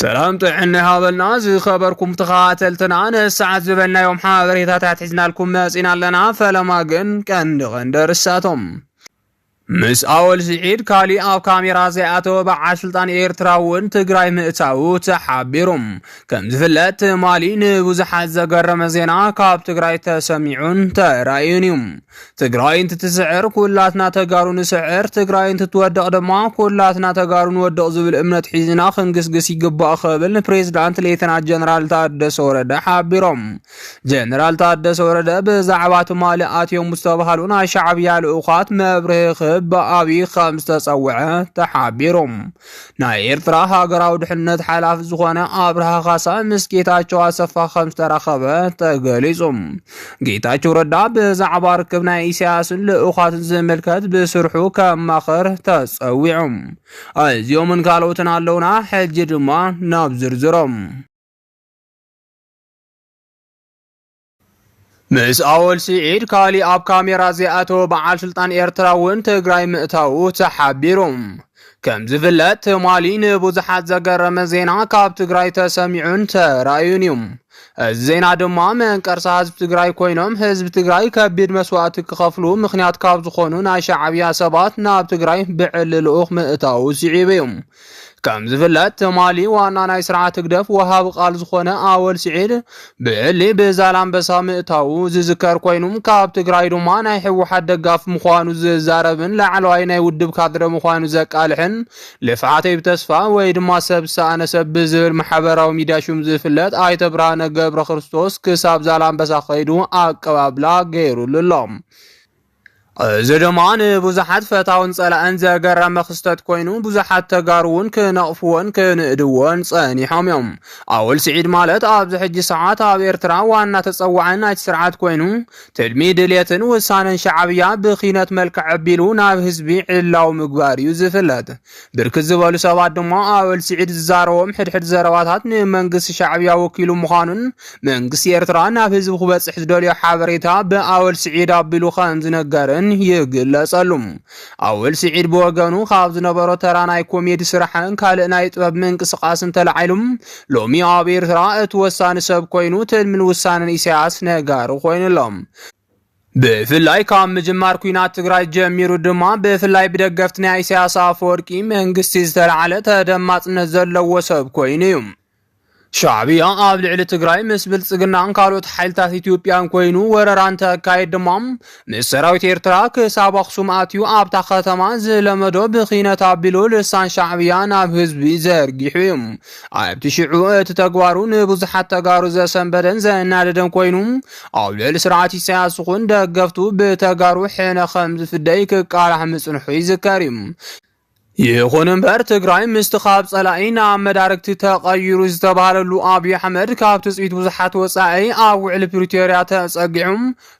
ሰላም ጥዕና ይሃበልና ዝኸበርኩም ተኸታተልትና ነዚ ሰዓት ዝበልናዮም ሓበሬታታት ሒዝናልኩም መጺና ኣለና። ፈለማ ግን ቀንዲ ቀንዲ ርሳቶም ምስ ኣወል ስዒድ ካሊእ ኣብ ካሜራ ዘይኣተወ በዓል ስልጣን ኤርትራ እውን ትግራይ ምእታዉ ተሓቢሩ። ከም ዝፍለጥ ትማሊ ንብዙሓት ዘገረመ ዜና ካብ ትግራይ ተሰሚዑን ተራእዩን እዩ። ትግራይ እንትትስዕር ኩላትና ተጋሩ ንስዕር፣ ትግራይ እንትትወድቕ ድማ ኩላትና ተጋሩ ንወድቕ ዝብል እምነት ሒዝና ክንግስግስ ይግባእ ክብል ንፕሬዚዳንት ሌተና ጀነራል ታደሰ ወረደ ሓቢሮም። ጀነራል ታደሰ ወረደ ብዛዕባ ትማሊ ኣትዮም ዝተባሃሉ ናይ ሻዕብያ ልኡኻት መብርሂ ክህብ ብኣብዪ ከም ዝተፀውዐ ተሓቢሩ። ናይ ኤርትራ ሃገራዊ ድሕነት ሓላፊ ዝኾነ ኣብርሃ ካሳ ምስ ጌታቸው ኣሰፋ ከም ዝተራኸበ ተገሊጹ። ጌታቸው ረዳ ብዛዕባ ርክብ ናይ ኢሳያስን ልኡኻትን ዝምልከት ብስርሑ ከማኸር ተጸዊዑ። እዚኦምን ካልኦትን ኣለውና፣ ሕጂ ድማ ናብ ዝርዝሮም። ምስ ኣወል ስዒድ ካሊእ ኣብ ካሜራ ዘይኣተወ በዓል ስልጣን ኤርትራ እውን ትግራይ ምእታዉ ተሓቢሩ። ከም ዝፍለጥ ትማሊ ንብዙሓት ዘገረመ ዜና ካብ ትግራይ ተሰሚዑን ተራእዩን እዩ። እዚ ዜና ድማ መንቀርሳ ህዝቢ ትግራይ ኮይኖም ህዝቢ ትግራይ ከቢድ መስዋእቲ ክኸፍሉ ምክንያት ካብ ዝኾኑ ናይ ሻዕብያ ሰባት ናብ ትግራይ ብዕሊ ልኡኽ ምእታዉ ስዒቡ እዩ። ከም ዝፍለጥ ትማሊ ዋና ናይ ስርዓት ህግደፍ ወሃቢ ቃል ዝኾነ ኣወል ስዒድ ብዕሊ ብዛላምበሳ ምእታዉ ዝዝከር ኮይኑ ካብ ትግራይ ድማ ናይ ሕወሓት ደጋፍ ምዃኑ ዝዛረብን ላዕለዋይ ናይ ውድብ ካድረ ምዃኑ ዘቃልሕን ልፍዓተይ ብተስፋ ወይ ድማ ሰብ ሰኣነ ሰብ ብዝብል ማሕበራዊ ሚድያ ሹም ዝፍለጥ ኣይተ ብርሃነ ገብረ ክርስቶስ ክሳብ ዛላምበሳ ከይዱ ኣቀባብላ ገይሩሉ ኣሎ። እዚ ድማ ንብዙሓት ፈታውን ጸላእን ዘገረመ ክስተት ኮይኑ ብዙሓት ተጋሩ እውን ክነቕፍዎን ክንእድዎን ጸኒሖም እዮም። ኣወል ስዒድ ማለት ኣብዚ ሕጂ ሰዓት ኣብ ኤርትራ ዋና ተጸዋዒ ናይቲ ስርዓት ኮይኑ ትልሚ፣ ድሌትን ውሳነን ሻዕብያ ብኪነት መልክዕ ኣቢሉ ናብ ህዝቢ ዕላዊ ምግባር እዩ ዝፍለጥ። ብርክት ዝበሉ ሰባት ድማ ኣወል ስዒድ ዝዛረቦም ሕድሕድ ዘረባታት ንመንግስቲ ሻዕብያ ወኪሉ ምዃኑን መንግስቲ ኤርትራ ናብ ህዝቢ ክበጽሕ ዝደልዮ ሓበሬታ ብኣወል ስዒድ ኣቢሉ ከም ዝነገርን ይግለጸሉ። ኣወል ስዒድ ብወገኑ ካብ ዝነበሮ ተራ ናይ ኮሜዲ ስራሕን ካልእ ናይ ጥበብ ምንቅስቃስን ተላዒሉ ሎሚ ኣብ ኤርትራ እቲ ወሳኒ ሰብ ኮይኑ ትልምን ውሳነን ኢሳያስ ነጋሪ ኮይኑሎም ብፍላይ ካብ ምጅማር ኩናት ትግራይ ጀሚሩ ድማ ብፍላይ ብደገፍቲ ናይ ኢሳያስ ኣፈወርቂ መንግስቲ ዝተላዕለ ተደማፅነት ዘለዎ ሰብ ኮይኑ እዩ። ሻዕብያ ኣብ ልዕሊ ትግራይ ምስ ብልጽግናን ካልኦት ሓይልታት ኢትዮጵያን ኮይኑ ወረራ እንተካይድ ድማ ምስ ሰራዊት ኤርትራ ክሳብ ኣኽሱም ኣትዩ ኣብታ ከተማ ዝለመዶ ብኺነት ኣቢሉ ልሳን ሻዕብያ ናብ ህዝቢ ዘርጊሑ እዩ። ኣብቲ ሽዑ እቲ ተግባሩ ንብዙሓት ተጋሩ ዘሰንበደን ዘናደደን ኮይኑ ኣብ ልዕሊ ስርዓት ኢሳያስ ይኹን ደገፍቱ ብተጋሩ ሕነ ከም ዝፍደይ ክቃላሕ ምጽንሑ ይዝከር እዩ። ይኹን እምበር ትግራይ ምስቲ ካብ ጸላኢ ናብ መዳርግቲ ተቐይሩ ዝተባህለሉ ኣብዪ ኣሕመድ ካብ ትጽቢት ብዙሓት ወጻኢ ኣብ ውዕሊ ፕሪቶርያ ተጸጊዑ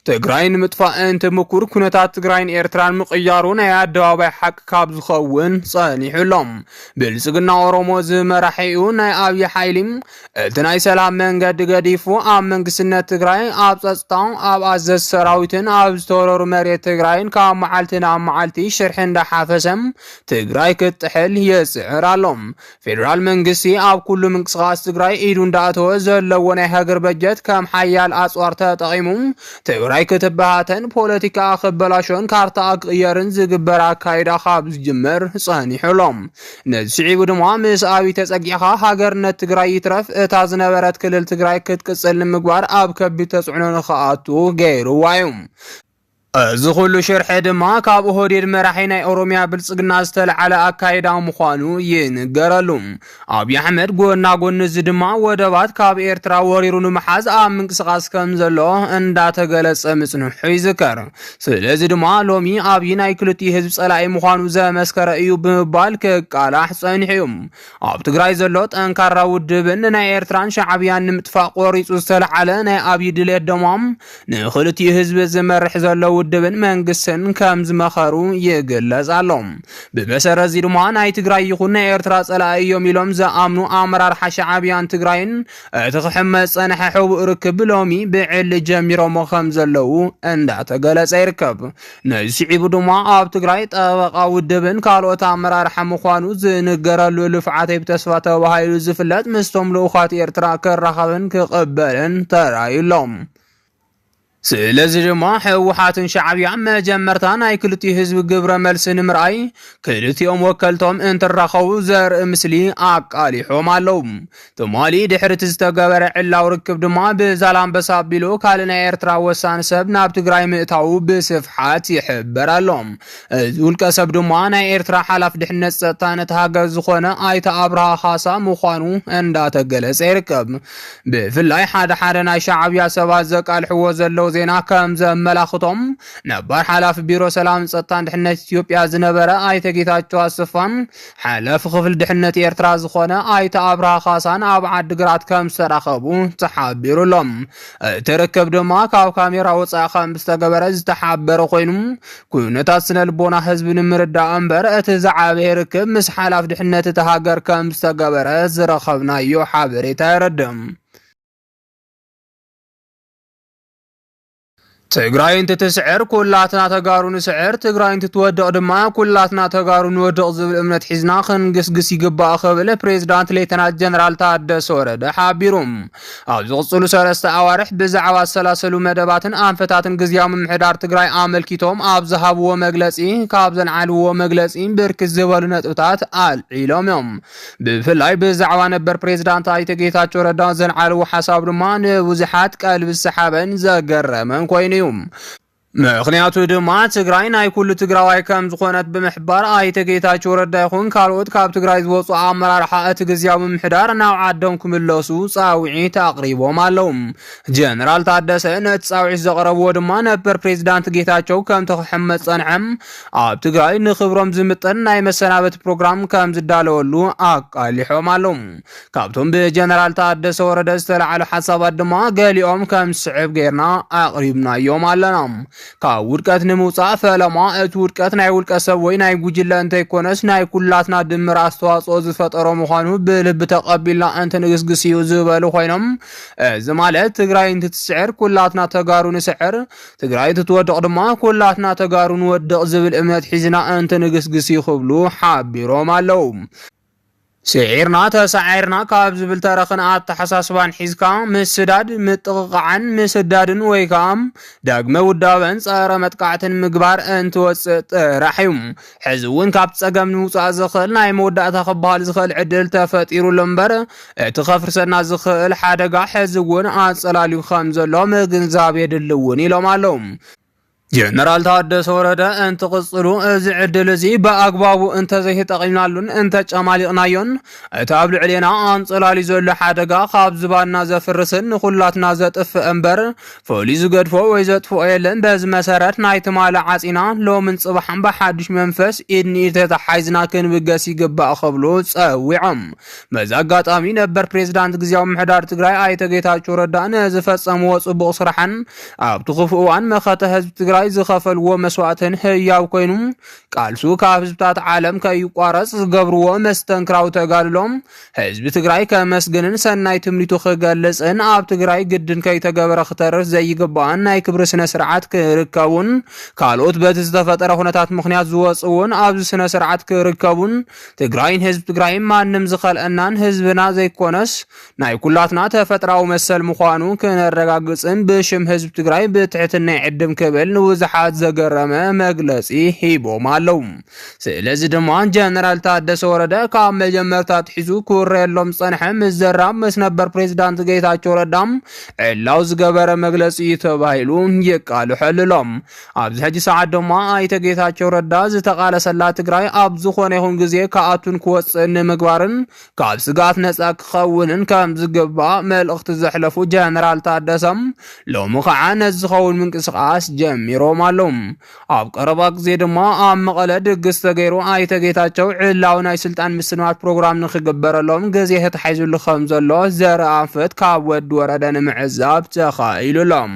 ትግራይ ንምጥፋእ እንትምኩር ኩነታት ትግራይን ኤርትራን ምቕያሩ ናይ ኣደባባይ ሓቂ ካብ ዝኸውን ጸኒሑ ኣሎ። ብልጽግና ኦሮሞ ዝመራሒኡ ናይ ኣብዪ ሓይሊ እቲ ናይ ሰላም መንገዲ ገዲፉ ኣብ መንግስትነት ትግራይ ኣብ ጸጥታ ኣብ ኣዘዝ ሰራዊትን ኣብ ዝተወረሩ መሬት ትግራይን ካብ መዓልቲ ናብ መዓልቲ ሽርሒ እንዳሓፈሰ ትግራይ ክትጥሕል ይጽዕር ኣሎ። ፌደራል መንግስቲ ኣብ ኩሉ ምንቅስቓስ ትግራይ ኢዱ እንዳእተወ ዘለዎ ናይ ሃገር በጀት ከም ሓያል ኣፅዋር ተጠቒሙ ትግራይ ክትበታተን፣ ፖለቲካኣ ክበላሾን ካርታኣ ክቕየርን ዝግበር ኣካይዳ ካብ ዝጅምር ፀኒሑ ኣሎ። ነዚ ስዒቡ ድማ ምስ ኣብይ ተፀጊዕኻ ሃገርነት ትግራይ ይትረፍ እታ ዝነበረት ክልል ትግራይ ክትቅፅል ንምግባር ኣብ ከቢድ ተፅዕኖ ንክኣቱ ገይሩዋ እዩ። እዚ ኩሉ ሽርሒ ድማ ካብ ኦህዴድ መራሒ ናይ ኦሮሚያ ብልጽግና ዝተልዓለ ኣካይዳ ምዃኑ ይንገረሉ። ኣብዪ ኣሕመድ ጎና ጎኒ እዚ ድማ ወደባት ካብ ኤርትራ ወሪሩ ንምሓዝ ኣብ ምንቅስቓስ ከም ዘሎ እንዳተገለጸ ምጽንሑ ይዝከር። ስለዚ ድማ ሎሚ ኣብዪ ናይ ክልቲኡ ህዝቢ ጸላኢ ምዃኑ ዘመስከረ እዩ ብምባል ክቃላሕ ጸኒሑ እዩ። ኣብ ትግራይ ዘሎ ጠንካራ ውድብን ንናይ ኤርትራን ሻዕብያን ንምጥፋእ ቆሪጹ ዝተልዓለ ናይ ኣብዪ ድሌት ድማ ንክልቲኡ ህዝቢ ዝመርሕ ዘሎ ውድብን መንግስትን ከም ዝመኸሩ ይግለጽ ኣሎ። ብመሰረት እዚ ድማ ናይ ትግራይ ይኹን ናይ ኤርትራ ጸላኢ እዮም ኢሎም ዝኣምኑ ኣመራርሓ ሻዕብያን ትግራይን እቲ ክሕመስ ጸንሐ ሕቡእ ርክብ ሎሚ ብዕሊ ጀሚሮሞ ከም ዘለዉ እንዳተገለጸ ይርከብ። ነዚ ስዒቡ ድማ ኣብ ትግራይ ጠበቓ ውድብን ካልኦት ኣመራርሓ ምዃኑ ዝንገረሉ ልፍዓተይ ብተስፋ ተባሂሉ ዝፍለጥ ምስቶም ልኡኻት ኤርትራ ክራኸብን ክቕበልን ተራእዩ ኣሎ። ስለዚ ድማ ህወሓትን ሻዕብያ መጀመርታ ናይ ክልቲኡ ህዝቢ ግብረ መልሲ ንምርኣይ ክልቲኦም ወከልቶም እንትራኸቡ ዘርኢ ምስሊ ኣቃሊሖም ኣለዉ። ትማሊ ድሕሪ እቲ ዝተገበረ ዕላዊ ርክብ ድማ ብዛላምበሳ ኣቢሉ ካልእ ናይ ኤርትራ ወሳኒ ሰብ ናብ ትግራይ ምእታዉ ብስፍሓት ይሕበር ኣሎ። እዚ ውልቀ ሰብ ድማ ናይ ኤርትራ ሓላፊ ድሕነት ጸጥታን እቲ ሃገር ዝኾነ ኣይተ ኣብርሃ ካሳ ምዃኑ እንዳተገለጸ ይርከብ። ብፍላይ ሓደ ሓደ ናይ ሻዕብያ ሰባት ዘቃልሕዎ ዘለዉ ዜና ከም ዘመላኽቶም ነባር ሓላፊ ቢሮ ሰላምን ጸጥታን ድሕነት ኢትዮጵያ ዝነበረ ኣይተ ጌታቸው ኣሰፋን ሓላፊ ክፍሊ ድሕነት ኤርትራ ዝኾነ ኣይተ ኣብርሃ ካሳን ኣብ ዓዲግራት ከም ዝተራኸቡ ተሓቢሩ ኣሎ። እቲ ርክብ ድማ ካብ ካሜራ ወፃኢ ከም ዝተገበረ ዝተሓበረ ኮይኑ ኩነታት ስነ ልቦና ህዝቢ ንምርዳእ እምበር እቲ ዝዓበየ ርክብ ምስ ሓላፍ ድሕነት እቲ ሃገር ከም ዝተገበረ ዝረኸብናዮ ሓበሬታ የረድእ። ትግራይ እንትትስዕር ኩላትና ተጋሩ ንስዕር፣ ትግራይ እንትትወድቕ ድማ ኩላትና ተጋሩ ንወድቕ ዝብል እምነት ሒዝና ክንግስግስ ይግባእ ክብል ፕሬዝዳንት ሌተናል ጀነራል ታደሰ ወረደ ሓቢሩ። ኣብ ዝቕፅሉ ሰለስተ ኣዋርሕ ብዛዕባ ዝሰላሰሉ መደባትን ኣንፈታትን ግዝያዊ ምምሕዳር ትግራይ ኣመልኪቶም ኣብ ዝሃብዎ መግለፂ ካብ ዘልዓልዎ መግለፂ ብርክት ዝበሉ ነጥብታት ኣልዒሎም እዮም። ብፍላይ ብዛዕባ ነበር ፕሬዝዳንት ኣይተ ጌታቸው ረዳ ዘልዓልዎ ሓሳብ ድማ ንብዙሓት ቀልቢ ዝሰሓበን ዘገረመን ኮይኑ እዩ። ምክንያቱ ድማ ትግራይ ናይ ኩሉ ትግራዋይ ከም ዝኾነት ብምሕባር ኣይተ ጌታቸው ረዳ ይኹን ካልኦት ካብ ትግራይ ዝወፁ ኣመራርሓ እቲ ግዝያዊ ምምሕዳር ናብ ዓዶም ክምለሱ ፃውዒት ኣቕሪቦም ኣለው። ጀነራል ታደሰ ነቲ ፃውዒት ዘቕረብዎ ድማ ነበር ፕሬዚዳንት ጌታቸው ከምቲ ክሕመፅ ፀንሐም ኣብ ትግራይ ንክብሮም ዝምጥን ናይ መሰናበቲ ፕሮግራም ከም ዝዳለወሉ ኣቃሊሖም ኣለዉ። ካብቶም ብጀነራል ታደሰ ወረደ ዝተላዕሉ ሓሳባት ድማ ገሊኦም ከም ዝስዕብ ገይርና ኣቕሪብናዮም ኣለና። ካብ ውድቀት ንምውፃእ ፈለማ እቲ ውድቀት ናይ ውልቀ ሰብ ወይ ናይ ጉጅለ እንተይኮነስ ናይ ኩላትና ድምር ኣስተዋፅኦ ዝፈጠሮ ምዃኑ ብልቢ ተቐቢልና እንትንግስግስ እዩ ዝበሉ ኮይኖም እዚ ማለት ትግራይ እንትትስዕር ኩላትና ተጋሩ ንስዕር ትግራይ ትትወድቕ ድማ ኩላትና ተጋሩ ንወድቕ ዝብል እምነት ሒዝና እንትንግስግስ እዩ ክብሉ ሓቢሮም ኣለው። ስዒርና ተሳዒርና ካብ ዝብል ተረኽን ኣተሓሳስባን ሒዝካ ምስዳድ፣ ምጥቕቓዕን ምስዳድን ወይ ከዓ ዳግመ ውዳበን ፀረ መጥቃዕትን ምግባር እንትወፅእ ጥራሕ እዩ። ሕዚ እውን ካብ ፀገም ንውፃእ ዝኽእል ናይ መወዳእታ ክበሃል ዝኽእል ዕድል ተፈጢሩሉ እምበር እቲ ከፍርሰና ዝኽእል ሓደጋ ሕዚ እውን ኣፀላልዩ ከም ዘሎ ምግንዛብ የድሊ እውን ኢሎም ኣለዉ። ጀነራል ታደሰ ወረደ እንትቕፅሉ እዚ ዕድል እዚ ብኣግባቡ እንተዘይተጠቒምናሉን እንተጨማሊቕናዮን እቲ ኣብ ልዕሌና ኣንፀላልዩ ዘሎ ሓደጋ ካብ ዝባንና ዘፍርስን ንኹላትና ዘጥፍእ እምበር ፍሉይ ዝገድፎ ወይ ዘጥፍኦ የለን። በዚ መሰረት ናይ ትማሊ ዓጺና ሎምን ጽባሕን ብሓድሽ መንፈስ ኢድ ንኢድ ተተሓሒዝና ክንብገስ ይግባእ ክብሉ ጸዊዖም። በዚ ኣጋጣሚ ነበር ፕሬዝዳንት ግዜያዊ ምሕዳር ትግራይ ኣይተ ጌታቸው ረዳ ንዝፈጸምዎ ጽቡቕ ስራሕን ኣብቲ ክፉእ እዋን መኸተ ህዝቢ ትግራይ ዝኸፈልዎ መስዋእትን ህያው ኮይኑ ቃልሱ ካብ ህዝብታት ዓለም ከይቋረጽ ዝገብርዎ መስተንክራዊ ተጋድሎም ህዝቢ ትግራይ ከመስግንን ሰናይ ትምኒቱ ክገልጽን ኣብ ትግራይ ግድን ከይተገበረ ክተርፍ ዘይግባእን ናይ ክብሪ ስነ ስርዓት ክርከቡን ካልኦት በቲ ዝተፈጠረ ኩነታት ምክንያት ዝወፅውን ኣብዚ ስነ ስርዓት ክርከቡን ትግራይን ህዝቢ ትግራይን ማንም ዝኸልአናን ህዝብና ዘይኮነስ ናይ ኩላትና ተፈጥራዊ መሰል ምዃኑ ክነረጋግፅን ብሽም ህዝቢ ትግራይ ብትሕትና ይዕድም ክብል ንብዙሓት ዘገረመ መግለፂ ሂቦም ኣለው። ስለዚ ድማ ጀነራል ታደሰ ወረደ ካብ መጀመርታ ኣትሒዙ ክውረየሎም ዝጸንሐ ምስ ዘራብ ምስ ነበር ፕሬዚዳንት ጌታቸው ረዳ ዕላው ዝገበረ መግለጺ እዩ ተባሂሉ ይቃልሐሉ ኣሎ። ኣብዚ ሕጂ ሰዓት ድማ ኣይተ ጌታቸው ረዳ ዝተቓለሰላ ትግራይ ኣብ ዝኾነ ይኹን ግዜ ክኣቱን ክወጽእን ንምግባርን ካብ ስግኣት ነጻ ክኸውንን ከም ዝግባእ መልእኽቲ ዘሕለፉ ጀነራል ታደሰም ሎሚ ከዓ ነዚ ዝኸውን ምንቅስቓስ ጀሚሮም ኣለዉ። ኣብ ቀረባ ግዜ ድማ ኣብ መቐለ ድግስ ተገይሩ ኣይተ ጌታቸው ዕላዊ ናይ ስልጣን ምስናድ ፕሮግራም ንክግበረሎም ግዜ ተታሒዙሉ ከም ዘሎ ዘርኢ ኣንፈት ካብ ወዲ ወረደ ንምዕዛብ ተኻኢሉሎም።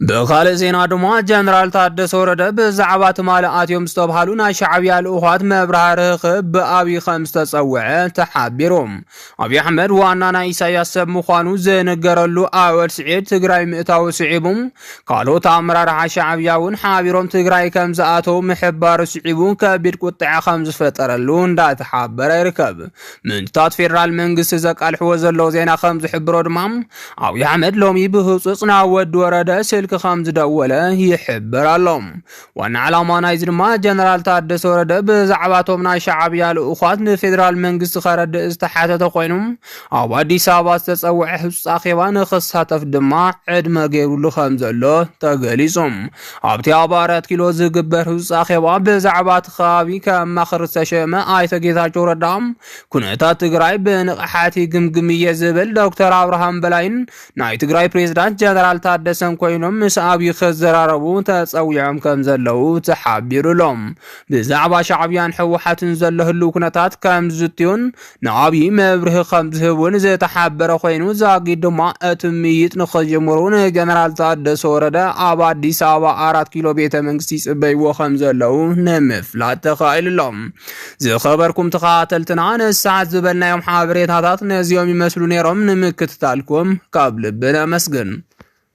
ብካልእ ዜና ድማ ጀነራል ታደሰ ወረደ ብዛዕባ ትማሊ ኣትዮም ዝተብሃሉ ናይ ሻዕብያ ልኡኻት መብርሃ ርህኽብ ብኣብዪ ከም ዝተጸውዐ ተሓቢሩ። ኣብዪ ኣሕመድ ዋና ናይ ኢሳያስ ሰብ ምዃኑ ዝንገረሉ ኣወል ስዒድ ትግራይ ምእታዊ ስዒቡ ካልኦት ኣመራርሓ ሻዕብያ እውን ሓቢሮም ትግራይ ከም ዝኣተው ምሕባሩ ስዒቡ ከቢድ ቁጠዐ ከም ዝፈጠረሉ እንዳተሓበረ ይርከብ። ምንጭታት ፌዴራል መንግስቲ ዘቃልሕዎ ዘለዉ ዜና ከም ዝሕብሮ ድማ ኣብዪ ኣሕመድ ሎሚ ብህፁፅ ናብ ወዲ ወረደ ስልኪ ከም ዝደወለ ይሕበር ኣሎ። ዋና ዓላማ ናይዚ ድማ ጀነራል ታደሰ ወረደ ብዛዕባቶም ናይ ሻዓብያ ልኡዃት ንፌዴራል መንግስቲ ከረድእ ዝተሓተተ ኮይኑ ኣብ ኣዲስ ኣበባ ዝተፀውዐ ህፁፅ ኣኼባ ንክሳተፍ ድማ ዕድመ ገይሩሉ ከም ዘሎ ተገሊፁ። ኣብቲ ኣብ ኣራት ኪሎ ዝግበር ህፁፅ ኣኼባ ብዛዕባ እቲ ከባቢ ከማኽር ዝተሸመ ኣይተ ጌታቸው ረዳ ኩነታት ትግራይ ብንቕሓት ይግምግም እየ ዝብል ዶክተር ኣብርሃም በላይን ናይ ትግራይ ፕሬዝዳንት ጀነራል ታደሰን ኮይኖም ምስ ኣብዪ ክዘራረቡ ተፀዊዖም ከም ዘለዉ ተሓቢሩ ኣሎ። ብዛዕባ ሻዕብያን ህወሓትን ዘሎ ህልው ኩነታት ከም ዝዝትዩን ንኣብዪ መብርሂ ከም ዝህቡን ዝተሓበረ ኮይኑ ዛጊድ ድማ እቲ ምይይጥ ንክጅምሩ ንጀነራል ታደሰ ወረደ ኣብ ኣዲስ ኣበባ ኣራት ኪሎ ቤተ መንግስቲ ይፅበይዎ ከም ዘለዉ ንምፍላጥ ተኻኢሉ ኣሎ። ዝኸበርኩም ተኸታተልትና ነዚ ሰዓት ዝበልናዮም ሓበሬታታት ነዚኦም ይመስሉ ነይሮም። ንምክትታልኩም ካብ ልቢ ነመስግን።